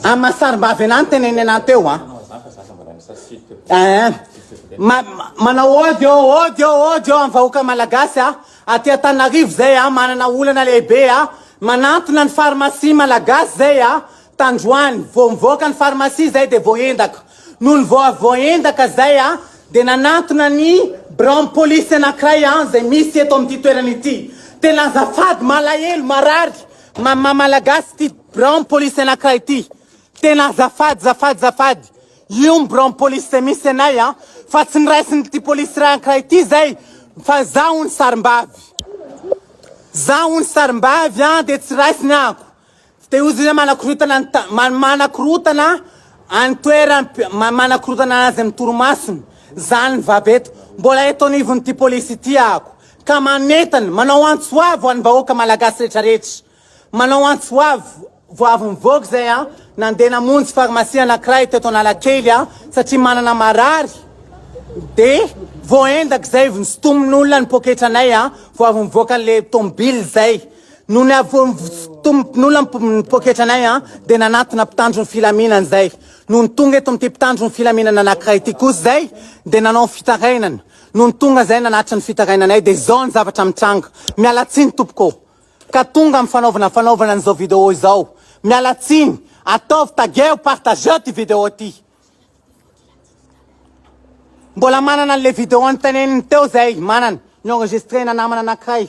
Amin'ny maha sarimbavy anahy ny tenenena teo an. Eh, ma, ma, manao ody ô, ody ô, ody ô amin'ny vahoaka malagasy a. Aty Antananarivo zay a, manana olana lehibe a. Manantona ny pharmacie malagasy zay a. Tandroany, vao mivoaka ny pharmacie zay dia voaendaka. Nony voavoaendaka zay a, dia nanantona ny biraon'ny polisy anankiray a, zay misy eto amin'ity toerana ity. Tena azafady, malahelo, marary ma maha malagasy ity biraon'ny polisy anankiray ity. Tena azafady, zafady, zafady. Io ny biraon'ny polisy zay misy anay a, fa tsy niraisin'ity polisy iray ankiray ity zay, fa za hono sarimbavy. Za hono sarimbavy a, dia tsy raisiny ako. Tsy te hozona manakorotana ny ta, ma, manakorotana any toeran, ma, manakorotana azy amin'ny torimasony, zany ny vava eto. Mbola eto anivon'ity polisy ity ahako. Ka manentana, manao antso avo an'ny vahoaka malagasy rehetra rehetra. Manao antso avo, vao avy nivoaka izay an, nandeha namonjy farmasia anankiray teto Analakely an, satria manana marary, dia voaendaka izay, vao nosintomin'olona ny poketranay an, vao avy nivoaka an'ilay tomobile izay. Nony avy eo nivotsotomponola ny mponin'ny poketra anay an, dia nanatona mpitandro ny filaminana izay. Nony tonga eto amin'ity mpitandro ny filaminana anankiray ity kosa izay, dia nanao ny fitarainany. Nony tonga izay nanatitra ny fitarainanay dia izao ny zavatra mitranga. Miala tsiny tompoko ô! Ka tonga amin'ny fanaovana fanaovana an'izao vidéo izao. Miala tsiny! Ataovy tagueo, partageo ity vidéo ity. Mbola manana an'ilay vidéo nitanenin'ny teo izay, manana. Ni-enregistrer-na namana anankiray.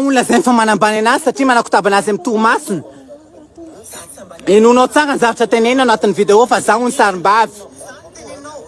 no lazainy fa manambany anazy satria manakotabana azy amin'ny torimasony. Henoinao tsara ny zavatra teneniny ao anatin'ny video fa za hono sarimbavy.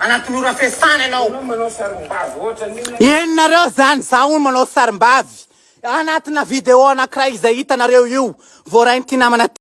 Anaty mora fiasana ianao. Hono manao sarimbavy ohatran'io ny anao. Eny nareo zany za hono manao sarimbavy anatina video anakiray izay hitanareo io voarain'ity namana ty.